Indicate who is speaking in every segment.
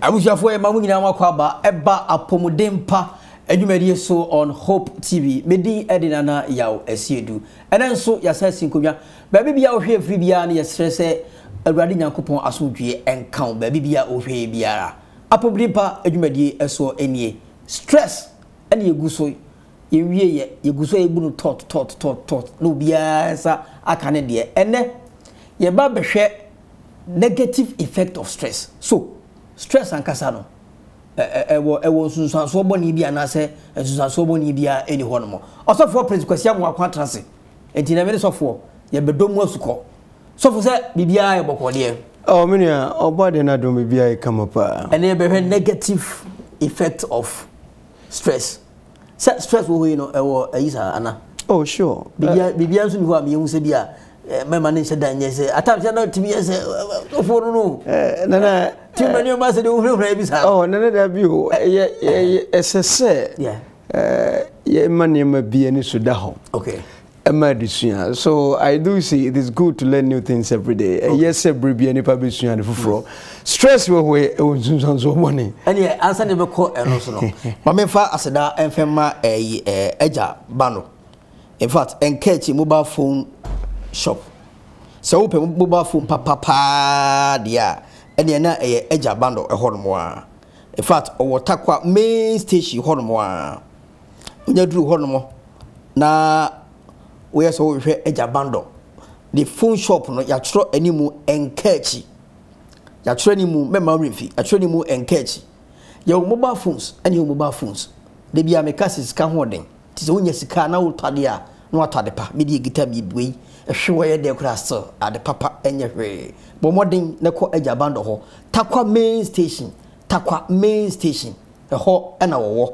Speaker 1: abusuafoɔ yɛ ma mo nyinaa wakɔ aba ɛba apɔmuden pa adwumadie so on hope tv medin ɛde nana yaw asiedu ɛnɛ nso yɛasan si nkonnwa baabi bia wohwɛ afiri biara no yɛsrɛ sɛ awurade nyankopɔn asomdwie ɛnka wo baabi bia wohwɛ biara apɔmuden pa adwumadie ɛsoɔ ɛnie stress ɛne ɛgu so Yɛwie yɛ, yɛgu so a yɛbu no tɔɔt tɔɔt tɔɔt tɔɔt na obiara nsa aka ne deɛ. Ɛnnɛ, yɛba bɛhwɛ negative effect of stress. So, stress ankasa no, ɛ, ɛ, ɛwɔ, ɛwɔ nsunsuansoɔ bɔne bi anaasɛ nsunsuansoɔ bɔne biara nni hɔ nom. Ɔsɔfoɔ Prince Kwasi Amoako atena ase. Enti na me ne sɔfoɔ, yɛbɛdɔ mu asukɔ. Sɔfo sɛ, biribiara yɛ bɔkɔɔ deɛ? Oh, me nua, ɔbɔ adeɛ no adom, biribiara yɛ kama paa. Ɛnnɛ yɛbɛhwɛ negative effect of stress. Sɛ stress wɔ hɔ yi no ɛwɔ ayi saa ana? Oh sure. Bibia bibia nso ni hɔ a meyɛ hu sɛ bi a mɛma ne nhyɛ da nyɛ sɛ atam sɛ na tumi yɛ sɛ ɔfoɔ no no. Nana tumi ma nneɛma sɛ de wohurahura bi saa. Oh nana da bi o ɛsɛ sɛ yɛma nneɛma bi ani so da hɔ. Okay. Ɛma adesua So I do see it is good to learn new things every day. Ɛyɛ sɛ bere biara nipa bɛsua ade foforɔ. Stress wɔ hɔ ɛwɔ nsunsuansoɔ bɔne. Ɛneɛ ansa ne bɛkɔ ɛno so no, ma memfa aseda mfa ma ɛyi agya ba no. In fact, ɛnka akyi mobile phone shop. Sɛ wopɛ mobile phone papa paa deɛ a, ɛneɛ na ɛyɛ agya ba no ɛhɔ nom ara. In fact, ɔwɔ Tarkwa main station hɔ nom ara. wonya duru hɔ nom na woyɛ sɛ worehwɛ agya bandɔ ne phone shop no yɛatwerɛ anim nkɛɛkyi yɛatwerɛ anim mɛma wo mfi yɛatwerɛ anim nkɛɛkyi yɛwɔ mobile phones ɛne yɛwɔ mobile phones da bi a meka sɛ sika ho ɔden nti sɛ wonya sika na wotɔ adeɛ a na watɔ ade pa mede yɛ gita bi wei ɛhwe wɔyɛ dɛ koraa still ade papa ɛnyɛ hwee bɔ mmɔden na kɔ agya bandɔ hɔ takwa main station takwa main station ɛhɔ ɛna wɔwɔ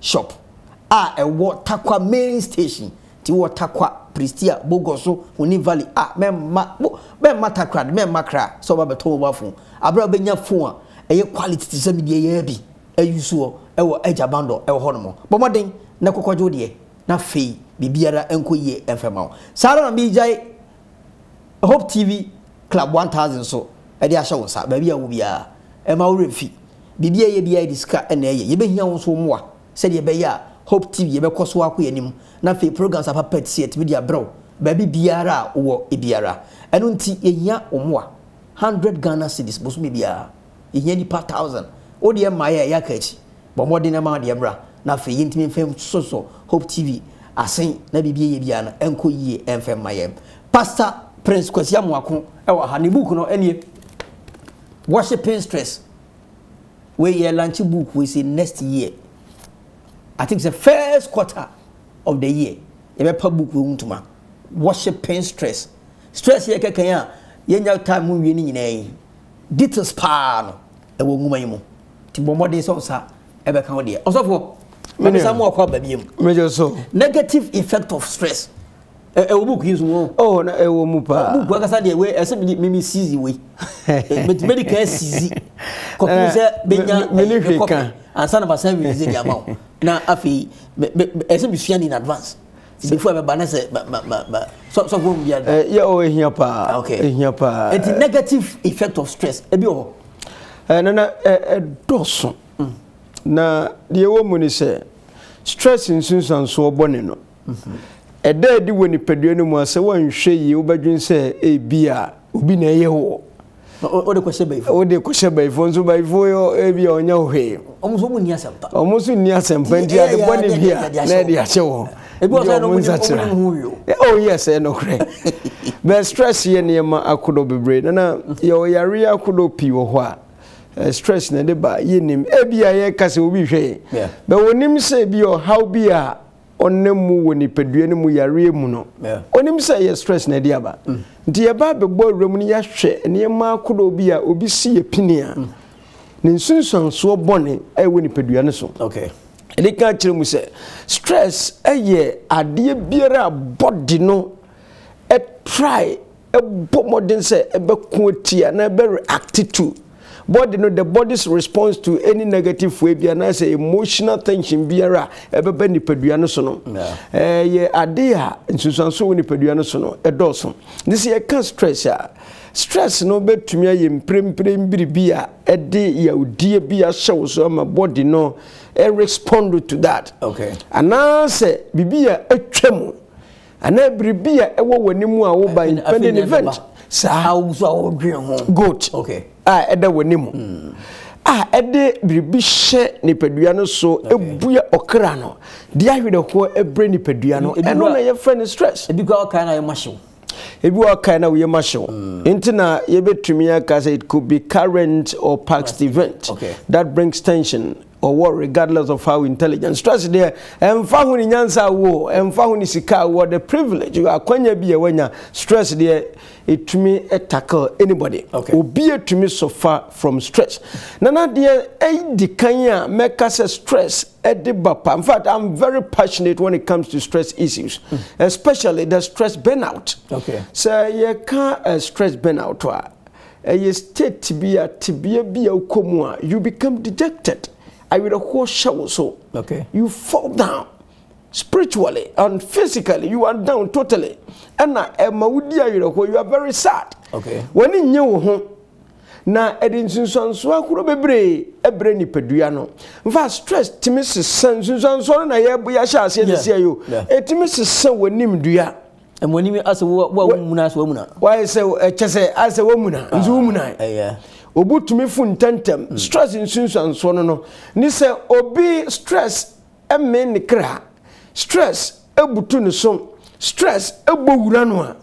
Speaker 1: shop a ɛwɔ Tarkwa main station nti wɔ Tarkwa, Prestea, Bogoso, Huni Valley a mɛmma wo mɛmma Tarkwa de mɛmma Accra sɛ ɔba bɛtɔ mobile phone aberɛ a wobɛnya phone a ɛyɛ quality te sɛ me deɛ yɛɛ bi use wɔ ɛwɔ Agya Bundle ɛwɔ hɔ nom bɔ mmɔden na kɔkɔgye wo deɛ na afei biribiara nkɔ yie mfɛma wo saa ara na megyae Hope TV Club One Thousand so de ahyɛ wo nsa. Baabi a wɔ biara, mma wo werɛ mfi. Biribi a ɛyɛ biara yɛde sika na ɛyɛ. Yɛbɛhia wo nso wo mmoa sɛdeɛ ɛbɛyɛ a Hope TV yɛbɛkɔ so akɔ yɛn anim na afei programs a papa ti sɛ yɛtumi de abrɛ wo baabi biara a wowɔ biara. Ɛno nti yɛhia wo mmoa. Hundred Ghana cedis bosome biara. yɛhia nnipa thousand, wo deɛ mma yɛ a yɛaka akyi, bɔ mmɔden na ma wo deɛ mmra na afei yɛntumi mfa nsususo Hope TV asen na biribi a yɛyɛ biara no ɛnkɔ yie ɛmfa mma yɛn. Pastor Prince Kwasi Amoako wɔ ha, ne book no nie, Worshipping Stress, wei yɛ lankye book wei sɛ next year, I think sɛ first quarter of the year yɛbɛpa book wei ho ntoma, Worshipping Stress, stress yɛ kɛkɛn a yɛnya time mu wie ne nyinaa yi. Details paa no ɛwɔ nwoma yi mu. Ti bɔ mmɔden sɛ ɔsa ɛbɛka wo deɛ. Ɔsɔfoɔ, mabisa mu ɔkɔ aba biem. Mejọ so. Negative effect of stress. Ɛwɔ book yi nso mu. Oh, na ɛwɔ mu paa. Book akasa deɛ wei ɛsɛ mede mimi sizi wei. Mɛtumi de kan sizi. Kɔpem sɛ bɛnya ɛyɛ kɔpem. Ansa na masan release deɛ ama wo. Na afei, ɛsɛ mesua ne in advance. Sibefo a bɛba na sɛ ba ba ba ba sɔ sɔ wɔn bi ada. Ɛɛ yɛ o ehia paa. Ah, okay. Ehia paa. Eti negative effect of stress ebi wɔ hɔ. Ɛɛ eh, nana ɛɛ eh, ɛdɔɔso. Eh, mm. Na deɛ ɛwɔ mu ni sɛ stress nsunsuansoɔ bɔne no. Mm-hmm. Ɛda adi wɔ nipadua no mu a sɛ wɔnhwɛ yie wobɛdwen sɛ ebi a obi na ɛyɛ wɔ. Wode kɔhyɛ bayifoɔ. Wode kɔhyɛ bayifoɔ nso bayifoɔ yɛ ebi a ɔnyɛ wo hwee. Wɔn nso wɔn nni asɛmpa. Wɔn nso nni asɛmpa nti ade bɔ ne bi a na ɛde ahyɛ wɔn. Ebi wɔ sɛ wɔn nsa kyerɛ. Oh yes, ɛyɛ nokorɛ. Bɛ stress yɛ nneɛma akodo bebree nana yɛ ɔyare akodo pii wɔ hɔ a. Eh, stress na de ba yɛnim ebi a yɛka sɛ obi hwɛ yɛ bɛ wɔnim sɛ bi ɔhaw bi a ɔnam mu wɔ nipadua no mu yareɛ mu no, ɔnim sɛ ɛyɛ stress na ɛde aba. Mm. Nti yɛba bɛbɔ awura mu no yɛahwɛ nneɛma akodoɔ bi a obi si yɛ pini a mm. ne nsunsuansoɔ bɔne ɛwɔ nipadua no so. Okay. Ɛde ka kyerɛ mu sɛ stress ɛyɛ adeɛ biara a bɔde no ɛtrae bɔ mmɔden sɛ ɛbɛko atia anaa ɛbɛ react to body no the body's response to any negative way bi anaasɛ emotional tension biara a ɛbɛba nipadua no so no ɛyɛ ade a nsunsuanso wɔ nipadua no so no ɛdɔɔso ne sɛ yɛka stress a stress no bɛtumi ayɛ mprempren biribi a ɛde yawdie bi ahyɛ wo so ama body no respond to that anaasɛ biribi a atwa mu Anaa biribi a ɛwɔ w'anim a woba in pending event saa goat a ɛda w'anim hmm. a ɛde biribi hyɛ nipadua no so ebue ɔkra no de ahwerɛhoɔ ɛbrɛ nipadua no ɛno na yɛfrɛ no stress ebi kora ɔkae na yɛma hyew ebi wɔ ɔkae na woyɛ ma hyew hmm. nti na yɛbɛtumi aka sɛ it could be current or past event that brings tension ɔwɔ regardless of how intelligent stress deɛ ɛnfa ho ne nyansa awo ɛnfa ho ne sika awo the privilege akwanya bi a wanya stress deɛ ɛtumi tackle anybody okay. obi ɛtumi suffer from stress nana deɛ ɛdi kan a mɛka sɛ stress ɛde ba pa in fact i'm very passionate when it comes to stress issues mm. especially the stress burnout okay. sɛ yɛka uh, stress burnout a Ɛyɛ state bi a tebea bi a wokɔ mu a you become dejected, awerɛhoɔ hyɛ wo so, okay. you fall down spiritually and physically you are down totally ɛna ɛma wodi awerɛhoɔ you are very sad okay. wɔne nye wo ho na ɛde nsunsuansoɔ ahorow bebree ɛbrɛ nipadua no nfa stress tumi sesa nsunsuansoɔ no na yɛahyɛ aseɛ ne seɛ yo ɛtumi sesa wɔ nimdua ɛmu anim asɛ wo a womuna asɛ wamuna wayɛ sɛ ɛkyɛ sɛ asɛ wamuna nso womuna ɛyɛ obu tumi fu ntɛntɛm hmm. stress nsunsuansoɔ no no ne sɛ obi stress ɛme ne kra stress ɛbutu ne so stress ɛbɔ wura no a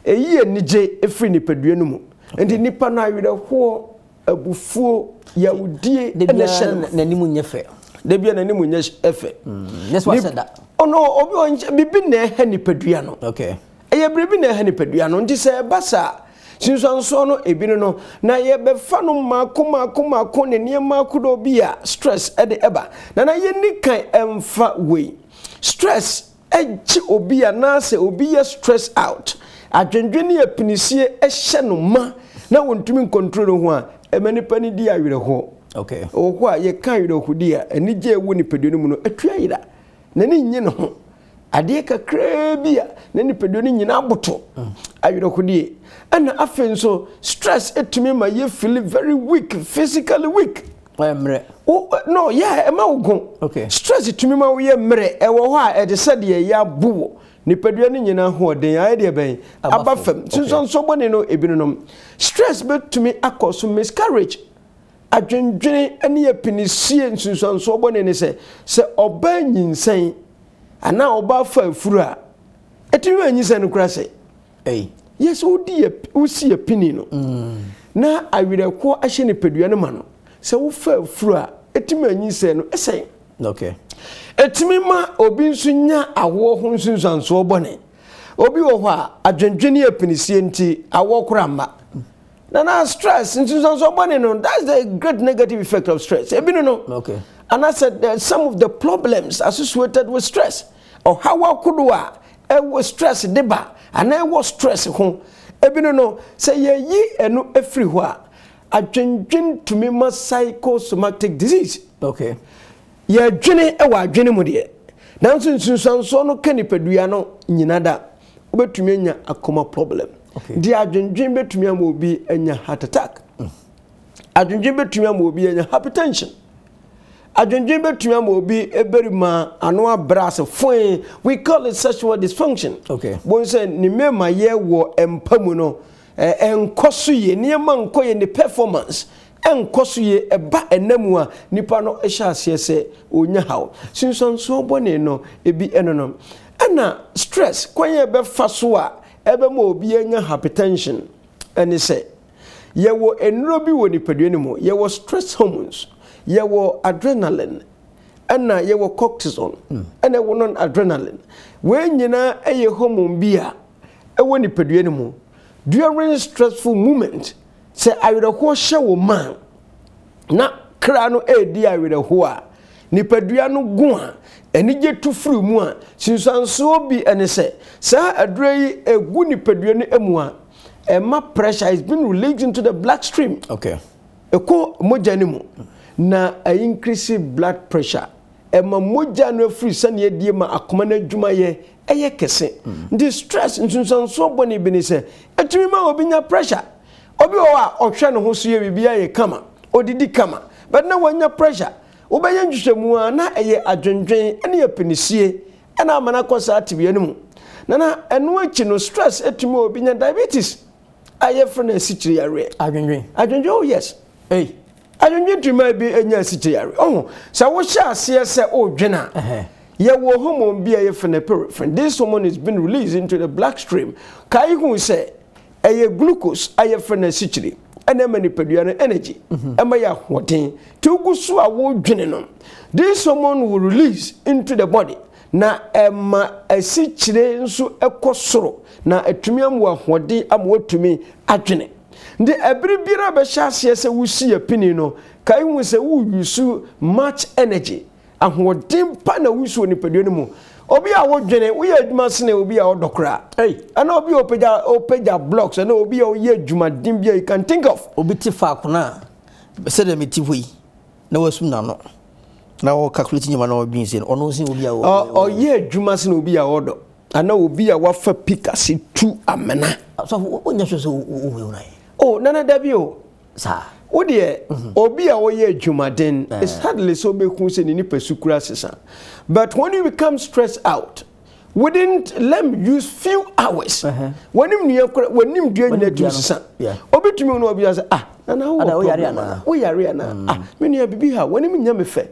Speaker 1: ɛyi anigye ɛfiri nipadua no mu nti nipa no awerɛhoɔ Abufuo, yawdie na ɛhyɛ no ma. N'anim nyɛ fɛ. Da biara n'anim nyɛ fɛ. Mm, nyɛ so ahyɛ da. Ɔno obi ɔnhyɛ biribi na ɛhɛ nipadua no. Okay. Ɛyɛ biribi na ɛhɛ nipadua no nti sɛ ɛba saa sunsuansoɔ no ebi no no na yɛbɛfa no mmaako mmaako mmaako ne nneɛma akodoɔ bi a stress ɛde ɛba na na yɛni kan ɛmfa wei stress. gye obi anaasɛ obi yɛ stress out, adwendwene ne apinisie hyɛ no ma na ɔntumi ncontrol ne ho a, ɛma nipa no di awerɛhoɔ. Okay. Ɛwɔ hɔ a yɛka awerɛhodi a, anigye a ɛwɔ nipadua no mu no atu ayera. N'ani nnye ne ho. Adeɛ kakraa bi a na nipadua no nyinaa aboto. Mm. Awerɛhodie. Ɛna afei nso stress ɛtumi ma yɛ feel very weak, physically weak. ɔyɛ mmerɛ wo no yɛ ɛma wo go stress tumi ma woyɛ mmerɛ ɛwɔ hɔ a ɛde sɛ deɛ ɛyɛ abo wɔ nipadua no nyinaa ho ɔden ayɛ deɛ bɛn aba fam nsonsanso bɔne no ebinom stress bɛtumi akɔ so miscarriage adwendwene ne apinisie nsunsuansoɔ bɔne ne sɛ sɛ ɔbaa nyinsɛn anaa ɔbaa fa afuru a ɛtumi ma nyinsɛn no kora sɛ Ei. Yɛ sɛ wodi yɛ wosi yɛ pini no na awerɛhoɔ ahyɛ nipadua no ma no sɛ wofa afuro a ɛtumi a nyinsɛn no ɛsɛe. Okay. Ɛtumi ma obi nso nya awoɔ ho nsunsuansoɔ bɔne. Obi wɔ hɔ a adwendwen ne apinisie nti awoɔ kora mma. Na na stress nsunsuansoɔ bɔne no that's the great negative effect of stress. Ebi no no. Okay. Anaasɛ some of the problems associated with stress. Ɔhaw akodoɔ a ɛwɔ stress de ba anaa ɛwɔ stress ho. Ebino no, sɛ yɛyi ɛno firi hɔ a, adwendwen tumi ma psychosomatic disease. Okay. Yɛdwene wɔ adwene mu deɛ, nanso nsunsuansoɔ no ka nipadua no nyina da. Wobɛtumi anya akoma problem. Okay. Deɛ adwendwen bɛtumi ama obi anya heart attack. Mm. Adwendwen bɛtumi ama obi anya hypertension. Adwendwen bɛtumi ama obi barima ano abrɛ ase foee, we call it sexual dysfunction. Okay. Bohu sɛ ne mmarima yɛ wɔ mpa mu no, ɛnkɔ so yie, nneɛma nkɔ yie, ne performance ɛnkɔ so yie, ɛba ɛna mu a, nipa no hyɛ aseɛ sɛ ɔnya haw. Sunsuansoɔ bɔne no, ebi ɛno no. Ɛna stress, kwan a ɛbɛfa so a ɛbɛma obi anya hypertension ɛne sɛ. Yɛwɔ nnuro bi wɔ nipadua no mu. Yɛwɔ stress hormones, yɛwɔ adrenaline, ɛna yɛwɔ cortisol, ɛna ɛwɔ non-adrenaline. Wei nyinaa yɛ hormone bi a ɛwɔ nipadua no mu. During stressful moment, sɛ awerɛhoɔ hyɛ wo ma a, na kra no redi awerɛhoɔ a, nipadua no go a, anigye tu firi mu a, nsunsuansoɔ bi ne sɛ, saa aduro yi gu nipadua no mu a, ɛma pressure is being released into the blood stream okay ɛkɔ mogya no mu na ɛyɛ increase blood pressure ɛma mogya no afiri sɛnea ɛdie ma akoma no adwuma yɛ ɛyɛ kɛse nti stress nsunsuansoɔ bɔ ne bi ne sɛ ɛtumi ma obi nya pressure obi wɔ hɔ a ɔhwɛ ne ho so yɛ biribi ayɛ kama ɔdidi kama but na wanya pressure wobɛyɛ nhwehwɛmu a na ɛyɛ adwendwen ne apinisie na ama no akɔ saa tebea no mu. Na na ɛno akyi no, stress atumi ma obi nya diabetes a yɛfrɛ no asikyire yareɛ. Adwendwen. Adwendwen, oh yes. Hey. Adwendwen tumi ma ebi nya asikyire yareɛ. Ɔho, sɛ wohyɛ aseɛ sɛ odwen a, yɛwɔ hormone bi a yɛfrɛ no epinephrine. This hormone is being released into the black stream. Kae hu sɛ, ɛyɛ glucose a yɛfrɛ no asikyire ɛna ɛma nipadua no energy mhm. ɛma yɛ ahoɔden te wogu so a wodwene no this hormone will release into the body na ɛma asikyire nso ɛkɔ soro na ɛtumi amu ahoɔden ama wɔtumi adwene nti ɛbere biara bɛhyɛ aseɛ sɛ wosi apini no ka ihu sɛ woyusu much energy Ahoɔden pa na wusi wɔ nipadua no mu. Obi a wodwene, woyɛ adwuma sene obi a ɔdɔ koraa. Ei, ɛna obi a ɔpagya ɔpagya blocks, ɛna obi a ɔyɛ adwumaden bi a you can think of. Obi te faako no a, sɛdeɛ mete hɔ yi, na wasum n'ano, na ɔ calculate nneɛma na ɔdwene sei no, ɔno sene obi a ɔ, ɔ, ɔyɛ adwuma sene obi a ɔdɔ, anaa obi a wafa pikase tu amena. Asɔfo, wonyɛ sure sɛ wohunahuna yɛn? Oh, nana dabi o. saa. Wo deɛ, obi a ɔyɛ adwumaden, it's hardly sɛ wobɛhu sɛ ne nipasu koraa sesa. But when you become stressed out, within let me use few hours, w'anim nua koraa, w'anim dua nyinaa tumi sesa. Obɛtumi wo na ɔbisa sɛ, ah, nana wowɔ problem anaa? Woyare anaa? Ah, me nua bibi ha, w'anim nyɛ me fɛ.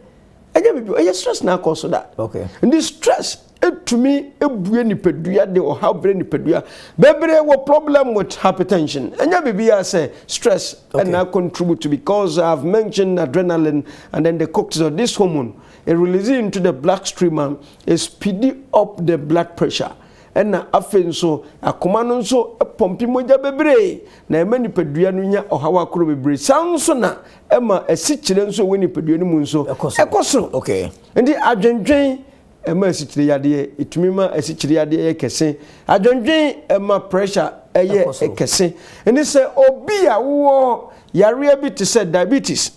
Speaker 1: Ɛnyɛ bibi, ɛyɛ stress na akɔ so da. Nti stress ɛtumi bue nipadua de ɔhaw brɛ nipadua bebree wɔ problem with hypertension ɛnyɛ biribiara sɛ stress okay. ɛna contribute because I have mentioned adrenaline and then the cortisol this hormone it releases into the black stream and it speed up the blood pressure ɛna afei nso akoma no nso pɔmpi mogya bebree na ɛma nipadua no nya ɔhaw akoro bebree saa nso na ɛma asikyire nso wɔ nipadua no mu nso ɛkɔ so nti adwendwen Ɛma asikyire yadeɛ, ɛtumi ma asikyire yadeɛ yɛ kɛse, adwendwen ɛma pressure yɛ kɛse, ɛne sɛ obi a wowɔ yareɛ bi te sɛ diabetes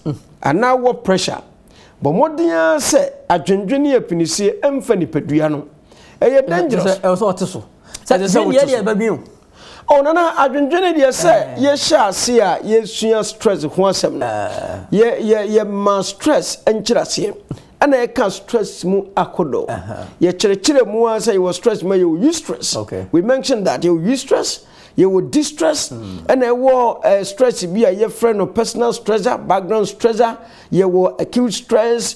Speaker 1: anaa wɔ pressure bɔ mmɔden ara sɛ adwendwen ne apinisie mfa nipadua no, ɛyɛ dangerous. Ɛsɛ sɛ ɔte so. Ɛsɛ sɛ ɔte so. Oh nana adwendwene deɛ sɛ eh. yɛ hyɛ ase a yɛ sua stress ho asɛm no eh. yɛ yɛ yɛ ma stress nkyerɛ aseɛ ɛna yɛ ka stress mu akodo uh -huh. yɛ kyerɛkyerɛ mu a sɛ yɛ wɔ stress mu a yɛ wɔ use stress okay. we mentioned that yɛ wɔ use stress yɛwɔ distress hmm. ɛna ɛwɔ eh, stress bi a yɛfrɛ no personal stressor background stressor yɛwɔ acute stress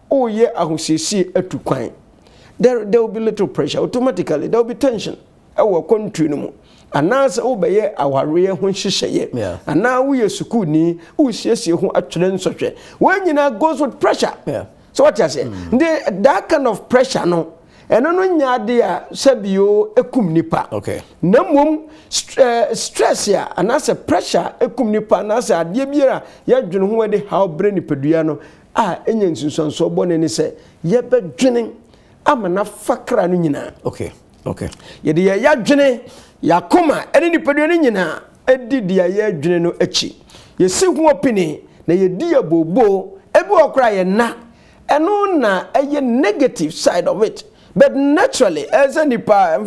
Speaker 1: Woreyɛ ahosiesie atu kwan. There there will be little pressure automatically there will be tension ɛwɔ akwantuo no mu anaasɛ wobɛyɛ awareɛ ho nhyehyɛeɛ yeah. anaa woyɛ sukuuni woresiesie ho atwerɛ nsɔhwɛ wɔn nyinaa goes with pressure yeah. so wate aseɛ mm. nti that kind of pressure no ɛno no nyɛ adeɛ a sɛbio ɛkum nipa okay. na mmom st uh, eh, stress a anaasɛ pressure ɛkum nipa anaasɛ adeɛ biara yɛdwene ho de haw berɛ nipadua no a ɛnya nsunsuansoɔ bɔne ne sɛ yɛbɛdwene ama no afa kra no nyinaa. Okay. Okay. Yɛde yɛn yɛadwene, yɛakoma ne nipadua no nyinaa di deɛ yɛadwene no akyi. Yɛsi ho ɔpini na yɛdi yɛ booboo. Ebi wɔ koraa yɛ nna. Ɛno na ɛyɛ negative side of it. But naturally, as a nipa,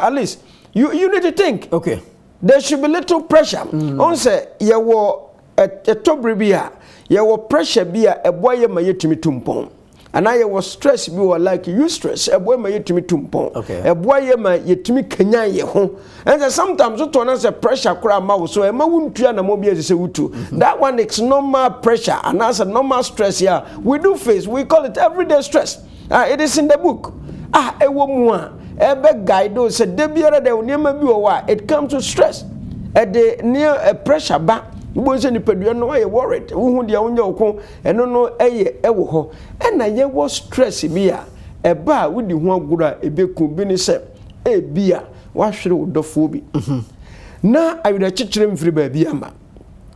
Speaker 1: at least, you, you need to think. Okay. There should be little pressure. Mm. On say, yɛwɔ Ɛtɔ bere bi a, yɛwɔ pressure bi a ɛboa yɛn ma yetumi tu mpɔn. Anaa yɛwɔ stress bi wɔ like eustress, ɛboa yɛn ma yetumi tu mpɔn. Ɛboa yɛn ma yetumi kanyan yɛn ho. Ɛne sɛ sometimes wotɔ na sɛ pressure koraa ma wo so a, ɛmma wuntu anammɔn bi a ɛsɛ sɛ wutu. That one it's normal pressure anaasɛ normal stress a we do face, we call it everyday stress. Ah, it is in the book. Ah, ɛwɔ mu a, ɛbɛ guide o sɛ da biara dɛ nneɛma bi wɔ hɔ a, it comes to stress. Ɛde nneɛ eh, pressure ba. Wobɛhu sɛ nipadua no ayɛ worried. Wohu deɛ wonyɛ wo ko, ɛno no ɛyɛ ɛwɔ hɔ. Ɛna yɛwɔ stress bi a, ɛba a wodi ho agorɔ a, ɛbɛku bi ne sɛ, ebia wahwere wo dɔfoɔ bi. Mhm. Na awerɛkyekyerɛ mfiri baabi amma.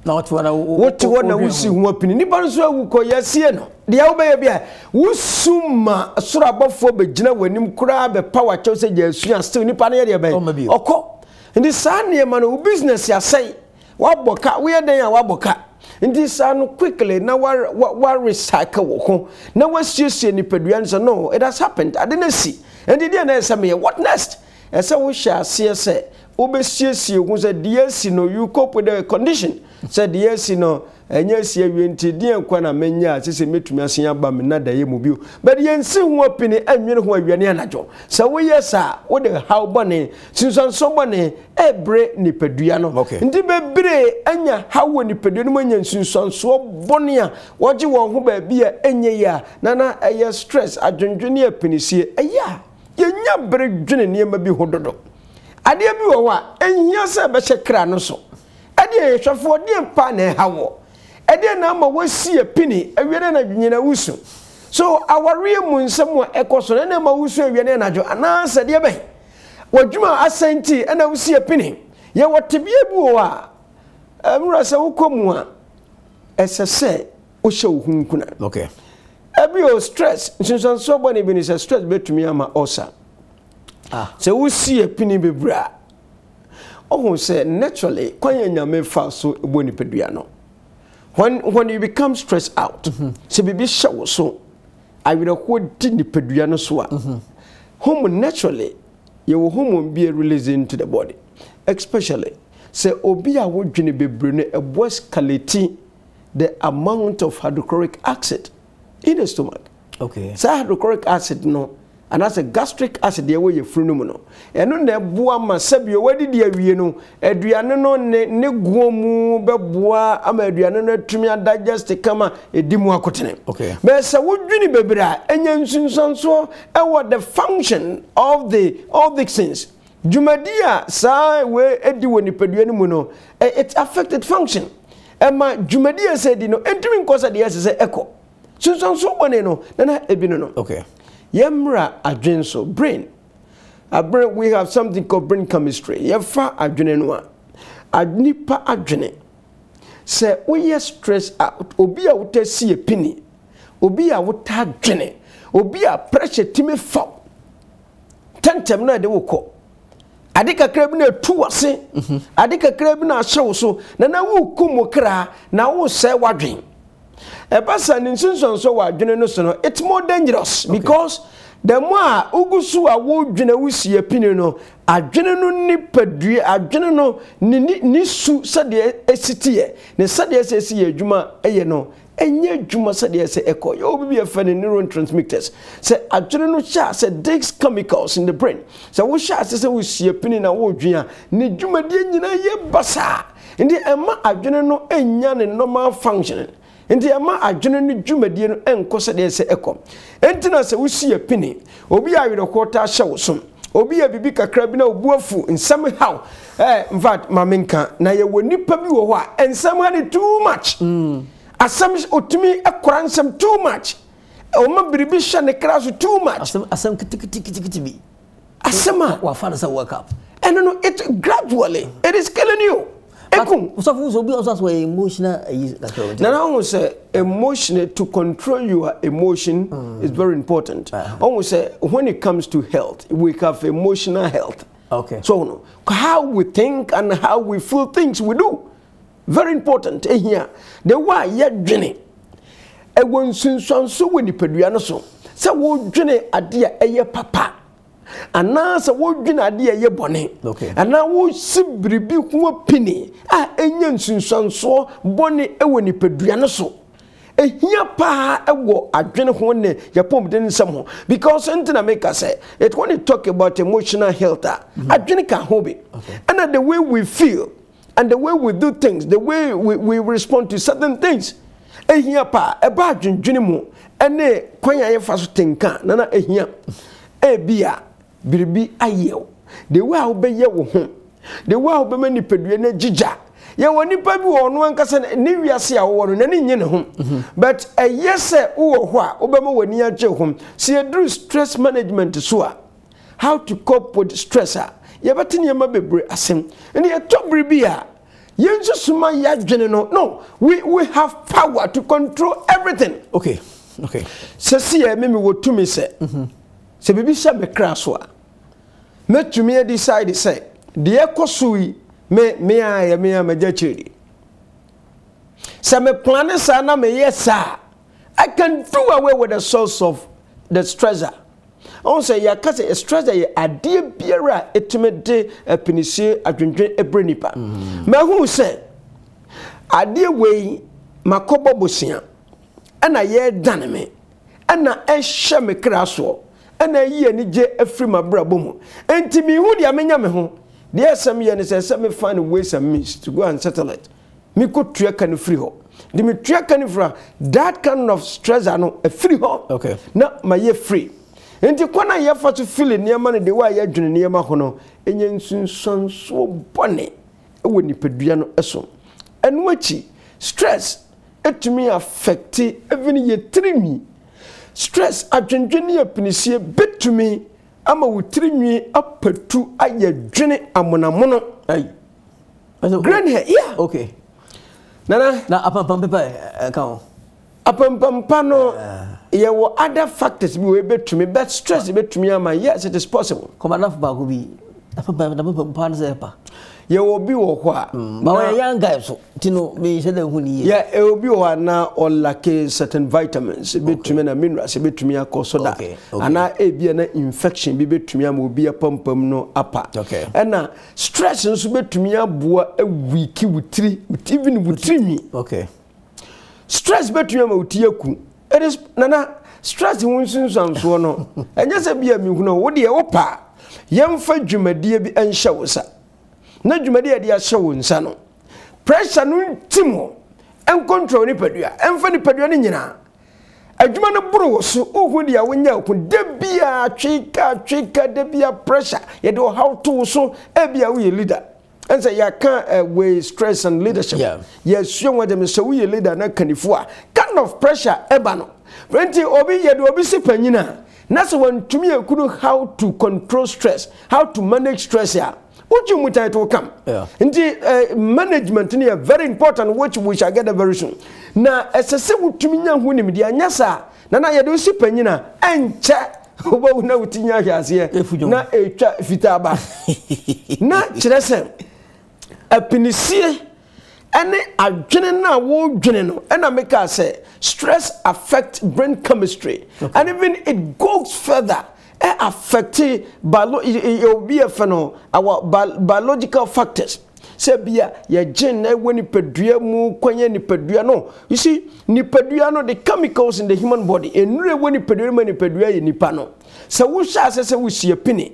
Speaker 1: na ɔte hɔ na wo wote hɔ na wosi ho apini nipa nso awu kɔ yɛasie no deɛ wobɛyɛ bia wosu ma soro abɔfoɔ bɛgyina w'anim koraa bɛpa wakyɛw sɛ gya asua still nipa no yɛ deɛ bɛyɛ ɔkɔ nti saa nneɛma no wo business asɛe woabɔ ka woyɛ dɛn a woabɔ ka nti saa no quickly na wa wa wa recycle wo ho na wasiesie nipadua no sɛ no it has happened ade no asi nti deɛ na ɛsɛ meyɛ what next ɛsɛ wo hyɛ aseɛ sɛ wo bɛ siesie ho sɛ deɛ asi no you cope with the condition sɛ deɛ asi no ɛnyɛ asi awie nti deɛ nkwa na mɛnya a sisi mɛtumi asen aba me na daeɛ mu bio but yɛnsi ho apini ɛnwene ho awia ne anadwo sɛ woyɛ saa wode haw bɔne sunsuanso bɔne ɛbrɛ nipadua no okay. nti bɛbire anya haw wɔ nipadua no mu anya nsunsuansoɔ bɔne a wɔgye wɔn ho baabi a ɛnyɛ yɛ a na na ɛyɛ stress adwendwene apinisie ɛyɛ a Yɛnnya bere dwene nneɛma bi ho dodo. Adeɛ bi wɔ hɔ a, ɛnhia sɛ ɛbɛhyɛ kra no so. Ɛdeɛn, hwɛfoɔ, deɛn paa na ɛha woɔ? Ɛdeɛn na ama woasi apini awia ne anadwo nyinaa wusu? So awareɛ mu nsɛm a ɛkɔ so na ɛna ɛma wusu awia ne anadwo, anaasɛ deɛ bɛn? W'adwuma asɛe nti na wusi apini? Yɛwɔ tebea bi wɔ hɔ a, ɛmmra sɛ wokɔ mu a, ɛsɛ sɛ. wohyɛ wo ho nkuran. Okay. Ebio stress nsunsuansoɔ bɔne bi ne sɛ stress bɛtumi ama ulcer. Ah. Sɛ wosi apini bebree a, ɔho sɛ naturally kwan yɛ nyame fa so bɔ nipadua no. When, when you become stressed out, mm-hmm. sɛ biribi hyɛ wo so, awerɛhoɔ di nipadua no so a, mm-hmm. hormone naturally yɛwɔ hormone bi release into the body, especially sɛ obi a wodwene bebree no ɛboa skaleti the amount of hydrochloric acid in the stomach okay saa hydrochloric acid no anaasɛ gastric acid deɛ ɛwɔ yɛfunu no mu no ɛno na ɛboa ma sɛbi ɔwadidi awie no aduane no ne ne guo mu bɛboa ama aduane no atumi adigest kama ɛdi mu akotene okay. bɛɛ sɛ wodwene bebree a ɛnya nsunsuansoɔ ɛwɔ the function of the of the things Dwumadi a saa wei di wɔ nipadua no mu no, it affect it function. Ɛma dwumadi a ɛsɛ di no ɛntumi nkɔ sɛ deɛ ɛsɛ sɛ ɛkɔ. Sunsuansoɔ bɔne no na na ebi no no. Okay. Yɛmmra adwene so, brain. Aberɛ we have something called brain chemistry. Yɛfa adwene no a, nipa adwene. Sɛ woyɛ stress a, obi a wotaa si apini, obi a wotaa dwene, obi a pressure tumi faw. Ntɛmntɛm na ɛde wo kɔ. Ade kakra bi na ɛtu w'ase. Mhm. Ade kakra bi na ahyɛ wo so. Na na worekum wo kra, na woresɛe w'adwen. Ɛba saa ne nsunsuansoɔ wɔ adwene no so no, it's more dangerous because the more a wogu so a wodwene wo si apini no, adwene no nipadua, adwene no ne su sɛdeɛ ɛsi teɛ, ne sɛdeɛ ɛsɛ ɛsi yɛ adwuma yɛ no, ɛnyɛ adwuma sɛdeɛ ɛsɛ ɛkɔ yɛ obi bi ɛfɛ ne neurotransmitters sɛ adwene no hyɛ sɛ these chemicals in the brain sɛ wohyɛ ase sɛ wosie pini na wodwen a ne dwumadie nyinaa yɛ basaa nti ɛma adwene no ɛnya ne normal functioning nti ɛma adwene no dwumadie no ɛnkɔ sɛdeɛ ɛsɛ ɛkɔ ɛnti na sɛ wosie pini Obi a awerɛhoɔ taa hyɛ wo so. Obi yɛ biribi kakra bi na wo bo afu, nsɛm ha wo. Eh, in fact, ma me nka, na yɛwɔ nnipa bi wɔ hɔ a, nsɛm ha no too much. Asɛm, ɔtumi kora nsɛm too much. Ɔma biribi hyɛ ne kra so too much. Asɛm, asɛm kitikitikiti bi. Asɛm a. Wafa no sɛ world cup. Ɛno no, it gradually, it is killing you. Ekum. Sɔfo wusu obi ɔsɔ aso emotional ayi kakra o. Nana ɔhu sɛ emotion to control your emotion mm. is very important. Ah. Ɔhu sɛ when it comes to health we have emotional health. Okay. So no how we think and how we feel things we do very important ehia the way yɛ dwene ɛwɔ nsunsuanso wɔ nipadua no so sɛ wodwene adeɛ a ɛyɛ papa. anaasɛ wodwene adeɛ a ɛyɛ bɔne anaa wosi biribi ho apini a ɛnya nsunsuansoɔ bɔne wɔ nipadua no so ehia paa wɔ adwene ho ne yɛpɔmuden nsɛm ho because ntina meka sɛ it when you talk about emotional health a mm-hmm. adwene ka ho bi ɛna the way we feel and the way we do things the way we we respond to certain things ehia paa ɛba adwendwene mu ɛne kwan a yɛfa so te nka na na ehia ebi a biribi ayɛ o the way a wobɛyɛ wo ho the way a wobɛma nipadua no agyigya yɛwɔ nipa bi wɔ ɔno ankasa ne wiase a wɔwɔ no n'ani nye ne ho mhm. but ɛyɛ sɛ wowɔ hɔ a wobɛma w'ani agye ho sɛ yɛduru stress management so a How to cope with stress a, yɛbɛte nneɛma bebree ase. Ɛnna ɛtɔ bere bi a, yɛn nsusu ma yɛadwene no, no, we we have power to control everything. Okay, okay. Sɛsi yɛ me mewɔ tumi sɛ, mhm. sɛ biribi hyɛ me kra so a, mɛtumi adecide sɛ, deɛ ɛkɔ so yi, me me a yɛ me a magya akyire di. Sɛ meplane saa na meyɛ saa a, I can do away with the source of the stressor. Ɔn sɛ yɛaka sɛ stressor yɛ adeɛ biara a ɛtumi de apinisie adwendwen ɛbrɛ nipa. Mm-hmm. Mahu sɛ adeɛ wei makɔbɔ bosea ɛna yɛredane me ɛna ɛhyɛ me kra soɔ ɛna ɛyi anigye afiri m'abrabɔ mu. Nti mehu deɛ menya me ho. Deɛ ɛsɛm yɛ ne sɛ sɛ mefa no ways and means to go and settle it. me kɔ tua ka no firi hɔ de me tua ka no firi hɔ that kind of stress ano afiri hɔ okay. na ma yɛ free nti kwan a yɛfa so fili nneɛma no de wɔ a yɛdwene nneɛma ho no ɛnyɛ nsunsuansoɔ bɔne wɔ nipadua no so ɛno akyi stress ɛtumi affecte even yɛ tirinwi stress adwendwene ne apinisie bɛtumi ama wo tirinwi apatu ayɛ dwene amonamono Grand hair, yeah. Okay. Nana. Na apampam pepa ɛka ho. Apampampa no yɛwɔ other factors bi wɔ ebetumi but stress ebetumi ama yes it is possible. Kɔmanafo baako bi apampam na apampam paa no sɛ ɛpa. Yɛwɔ obi wɔ hɔ a. Mm, na ɔyɛ young guy so ti no mi nhyɛ dɛ hu ni yie. Yɛ e, obi wɔ hɔ a na ɔlake certain vitamins ebetumi na minerals ebetumi akɔ so da. Ana ebi na infection bi betumi ama obi apampam no apa. Ɛna. Okay. Stress nso bɛtumi aboa awiki wo tiri, even wo tiri nwi. Okay. Stress bɛtumi ama wo ti aku. It is, nana, stress ho nsunsuansoɔ no, ɛnyɛ sɛ bia mehunu wo deɛ wo paa. Yɛmfa dwumadie bi nhyɛ wo nsa. Na dwumadie a yɛde ahyɛ wo nsa no, pressure no ntim hɔ, ɛncontrol nipadua, ɛmfa nipadua no nyinaa. Adwuma no boro wo so, wonhu nea wonya ɔko. Da biara tweka tweka, da biara pressure, yɛde ɔhaw to wo so. Ebia woyɛ leader. Ɛne sɛ yɛaka eh, wei stress and leadership. Yeah. Yɛasua ho adeɛ no sɛ woyɛ leader na kanifo a, kind of pressure ɛba no. Nti obi yɛde obi si panyin a, na sɛ wantumi anhunu how to control stress, how to manage stress a, Uchi mu it will come. Yeah. Nti uh, management ni very important which we shall get very soon. Na ɛsɛ sɛ wotumi nya ho nimdeɛ anya saa na na yɛde wosi panyin a ɛnkyɛ wobɛwu na woti nya ahwɛ aseɛ na ɛtwa fitaa ba na kyerɛ sɛ apinisie ɛne adwene no a wodwene no ɛna mekaa sɛ stress affect brain chemistry okay. and even it goes further ɛ affect biolo obi yɛfɛ no our biological factors sɛ bia yɛgye na ɛwɔ nipadua mu kwanya nipadua no you see nipadua no the chemicals in the human body nnuro ɛwɔ nipadua mu nipadua yɛ nipa no sɛ wohyɛ asɛ sɛ wosie pini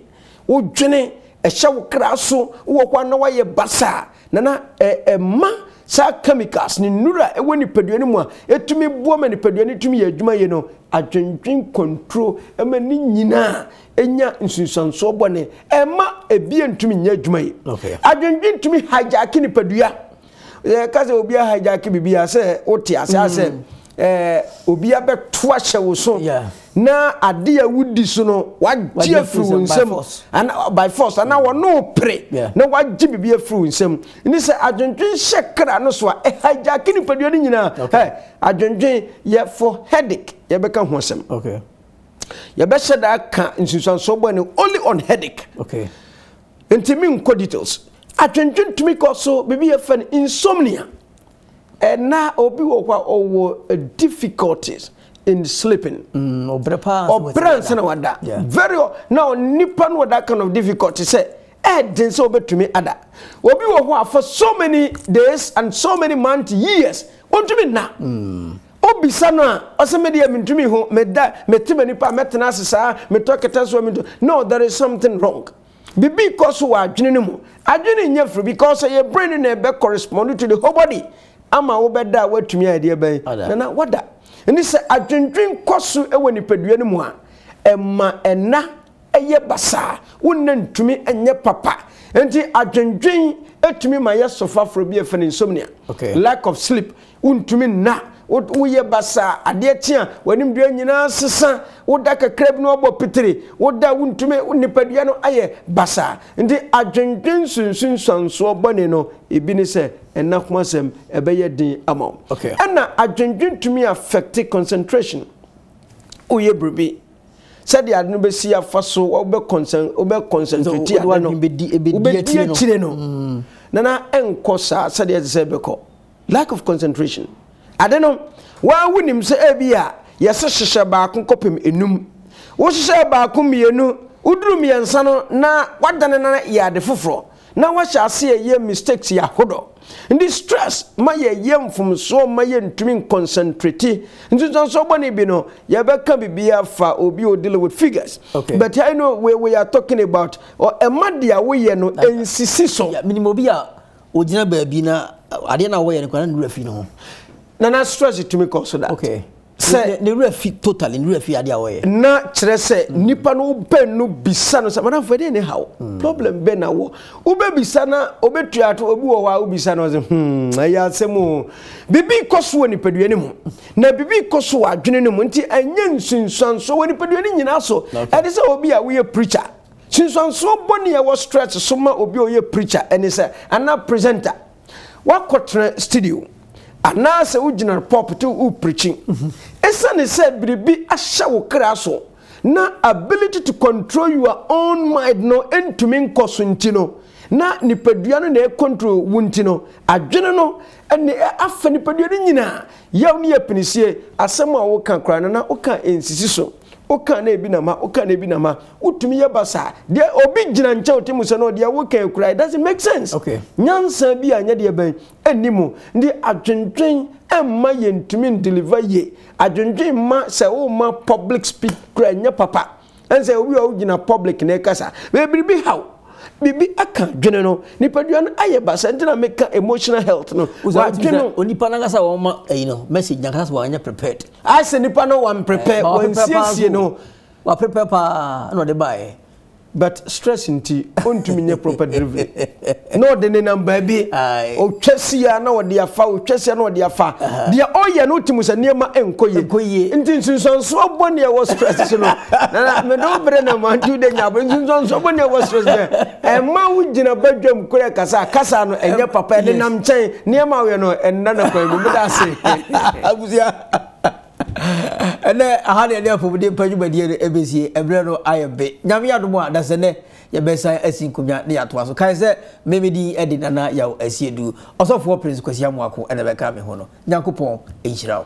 Speaker 1: wodwene, ɛhyɛ wo kra so, wowɔ hɔ a na woayɛ basaa, na na ɛma saa chemicals ne nnura a ɛwɔ nipadua no mu a ɛtumi boa ma nipadua no tumi yɛ adwuma yie no adwendwen kwanturo ma ne nyinaa ɛnya nsunsuansoɔ bɔne ɛma ebi ntumi nyɛ adwuma yie adwendwen tumi hijack nipadua yɛka sɛ obi ahijack biribi a sɛ wote ase a sɛ mm. eh, obi abɛto ahyɛ wo so na ade a wodi so no wagye afiri wo nsam by force ana mm. wɔne wo pere na wagye biribi afiri wo nsam ne sɛ adwendwen hyɛ kra no so a ɛhijack nipadua no nyinaa eh, adwendwen yɛ for headache yɛbɛka ho asɛm yɛbɛhyɛ da ka nsunsuansoɔ bɔ ne only on headache okay. Enti me nkɔ details. Adwendwen tumi kɔ so biribi yɛfɛ no insomnia. Ɛna obi wɔ hɔ a ɔwɔ difficulties in sleeping. Mm, ɔbrɛ paa. Ɔbrɛ ansa na wada. Yeah. Very na onipa no wɔ that kind of difficulty sɛ ɛden sɛ obetumi ada. Obi wɔ hɔ a for so many days and so many months, years, ontumi nna. Mm. Wobisa no a, ɔse me deɛ mentumi ho, meda, mete m'ani pa a mɛtena ase saa, metɔ kɛtɛ so a mentɔ, no there is something wrong. Biribi rekɔ so wɔ adwene no mu. Adwene nyɛ firi because ɛyɛ brain no na ɛbɛ correspond to the whole body ama wobɛda a woatumi ayɛ deɛ bɛn? Nana, wada. Nti sɛ adwendwen kɔ so wɔ nipadua no mu a, ɛma ɛna. yɛ basaa, wo nna ntumi nyɛ papa. Enti adwendwen tumi ma yɛsɔ faforo bi a yɛfrɛ no insomnia, lack of sleep. Wontumi nna, woyɛ basaa, adeɛ kye a w'animdua nyinaa sesa, woda kakra bi na woabɔ pitiri, woda a wontumi, wo nipadua no ayɛ basaa. Nti adwendwen so nsunsuansoɔ bɔne no, ebi ne sɛ nna ho asɛm, ɛbɛyɛ den ama wo. Ɛna adwendwen tumi affect concentration, woyɛ biribi. sɛdeɛ ade no bɛsi afa so wobɛ concentrate ade no wobɛdi akyire no mm. na na ɛnkɔ saa sɛdeɛ ɛte sɛ bɛkɔ lack of concentration ade no waa wonim sɛ ebi a yɛsɛ hyehyɛ baako kɔpem enum wohyehyɛ baako mmienu woduru mmiɛnsa no na wadane na yɛ ade foforɔ na wahyɛ ase ɛyɛ mistakes ahodoɔ nti stress ma yɛyɛ mfomsoɔ ma yɛntumi nkɔnsɛntreti nsunsuansoɔ bɔne bi no yɛbɛka biribi afa obi o dealing with figures okay. but I know we, we are talking about ɛma deɛ woyɛ no nsisi so menim obi a ɔgyina baabi na adeɛ no a wɔyɛ no kora na nura fi no ho nana stress tumi kɔ so that okay. Sɛ. Ne, ne werɛ fi totally, ne werɛ fi adeɛ a ɔyɛ. Na kyerɛ sɛ mm. nipa no wobɛn no bisa no sɛ madamfo ɛdeɛ ne haw mm. problem bɛ na wɔ wobɛbisa na ɔbɛtua to obi wɔ hɔ a wobisa no ɔsɛ hmm ɛyɛ asɛm o biribi kɔ so wɔ nipadua no mu na biribi kɔ so wɔ adwene no mu nti ɛnyɛ nsunsuansoɔ wɔ nipadua no nyinaa so ɛde sɛ obi a woyɛ preacher sunsuansoɔ bɔne a ɛwɔ stress so ma obi a ɔyɛ preacher ɛne sɛ ana presenter woakɔtena studio anaasɛ wogyina pulpit woreprikyi. Mhm. Esiane sɛ biribi ahyɛ wo kra so na ability to control your own mind no ntumi nkɔ so nti no, na nipadua no na ɛkɔntro wo nti no, adwene no ne afa nipadua no nyinaa. Yaw ne apinisie, asɛm a woka koraa no na woka nsisi so. woka na ebi na ma woka na ebi na ma wotumi yɛ basa deɛ obi gyina nkyɛn ɔte mu sɛ no deɛ woka ekura it doesn't make sense okay nyansa bi a nyɛ deɛ bɛn ɛni mu ndi adwendwen ɛmma yɛntumi n deliver yie adwendwen ma sɛ woma public speak kura nyɛ papa ɛnsɛ obi a wogyina public na ɛkasa biribi haw biribi aka dwene no nipadua no ayɛ basa nti na meka emotional health no wadwene no onipa nankasa wɔn ma ɛyi no message nankasa wɔn anyɛ prepared Ayɛ sɛ nipa no wamprepɛ, eh, wansiesie ne ho. Waprepɛ paa na ɔde baeɛ. But stress nti, ɔntumi nyɛ proper delivery. Na ɔde ne nam baabi, ɔtwa sia na ɔde afa, ɔtwa sia na ɔde afa. Deɛ ɔyɛ no wotim sɛ nneɛma nkɔ yie. Nkɔ yie. Nti nsunsuansoɔ bɔ ne ɛwɔ stress no. Na mede wo bere na mantu de nya abo nsunsuansoɔ bɔ ne ɛwɔ stress no. Ɛmma wogyina badwam kura kasa a kasa no ɛnyɛ papa ɛnenam nkyɛn nneɛma a woyɛ no ɛnna no kwan mu meda ase abusua ɛnɛ aha ne ɛne apɔmuden mpa dwumadie no ɛbɛsie ɛberɛ no ayɛ be nyame adom a dasɛ nɛ yɛbɛsan asi nkonnwa ne yɛatoa so kae sɛ memedi ɛde nana yaw asie du ɔsɔfoɔ prince kwasi amoako ɛna bɛka me ho no nyankopɔn ɛnhyira wo